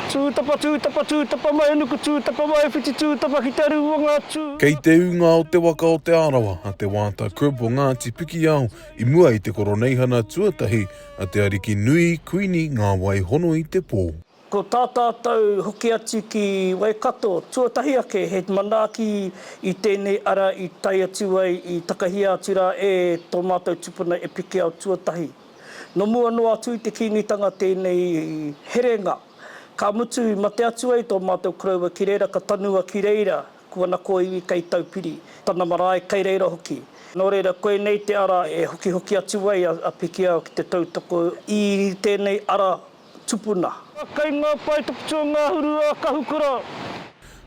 Tūtapa, tūtapa, tūtapa mai nuku, tūtapa mai whiti, tūtapa ki te rūanga, tū. Kei te ūnga o Te Waka o Te Arawa a Te Waata Crib o Ngāti Pikiao i mua i te koroneihana tuatahi a Te Ariki Nui Kuini Ngāwaihono-i-te-Pō. Ko tā tātou hoki atu ki Waikato, tuatahi ake he manaaki i tēnei ara i tae atu ai i takahia atu rā e tō mātou tupuna e Pikiao tuatahi. No mua noa atu i te Kīngitanga tēnei herenga. Ka mutu i mate atu ai tō mātou koroua ki reira ka tanua ki reira ko ana kōiwi kei Taupiri, tana marae kei reira hoki. Nō reira koinei te ara e hokihoki atu ai a Pikiao ki te tautoko i tēnei ara tupuna. Kei ngā pae tukutua ngahuru a Kahukura.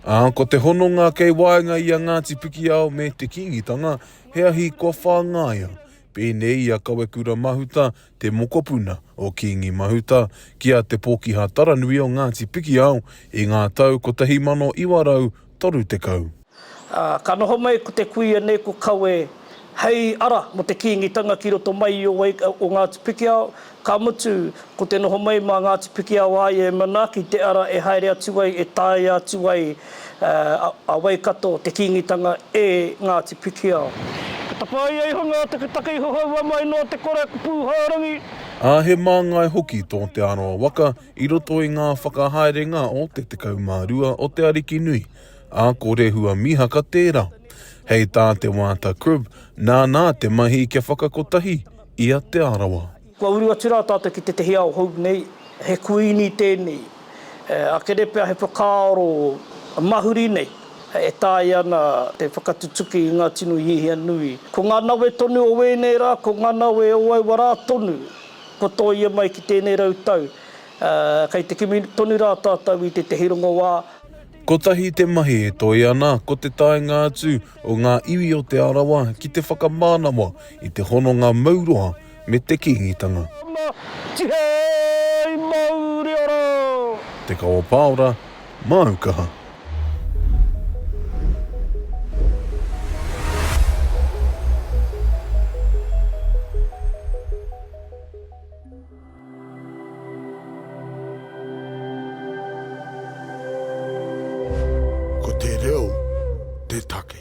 Ā, ko te hononga kei waenga i a Ngāti Pikiao me te Kīngitanga, he ahi kua whāngaia, Pēnei i a Kawekura Mahuta, te mokopuna o Kīngi Mahuta, ki a Te Pōkiha Taranui o Ngāti Pikiao i ngā tau 1930. Ā, ka noho mai ko te kuia nei ko Kawe hei ara mō te Kīngitanga ki roto mai i o Ngāti Pikiao, Ka mutu, ko te noho mai mā Ngāti Pikiaoaia e manaaki te ara e haere atu ai e taea atu ai a Waikato te Kīngitanga e Ngāti Pikiao. Ka tapaia iho ngā taketake i hohoua mai noa te kore ko Pūhārangi. Ā, he māngai hoki tō Te Arawa waka i roto i ngā whakahaerenga o te tekau mā rua o te ariki nui, ā, ko Rehua Mihaka tērā. Hei tā Te Waata Cribb, nānā te mahi kia whakakotahi i a Te Arawa. Kua uru atu rā tātou ki tētahi ao hou nei, he kuīni tēnei, a Kerepea he whakaaro mahuri nei e taea ana te whakatutuki i ngā tino hiahia nui. Ko ngā nawe tonu o ēnei rā, ko ngā nawe o aua rā tonu, kua tōia mai ki tēnei rau tau, kei te kimi tonu rā tātou i tētahi rongoā. Kotahi te mahi e toe ana, ko te taenga atu, o ngā iwi o Te Arawa ki te whakamānawa i te hononga mauroa me te Kīngitanga. Ana, tihei mauri ora! Te Kawa Paora, māu kaha. Ko te reo te take.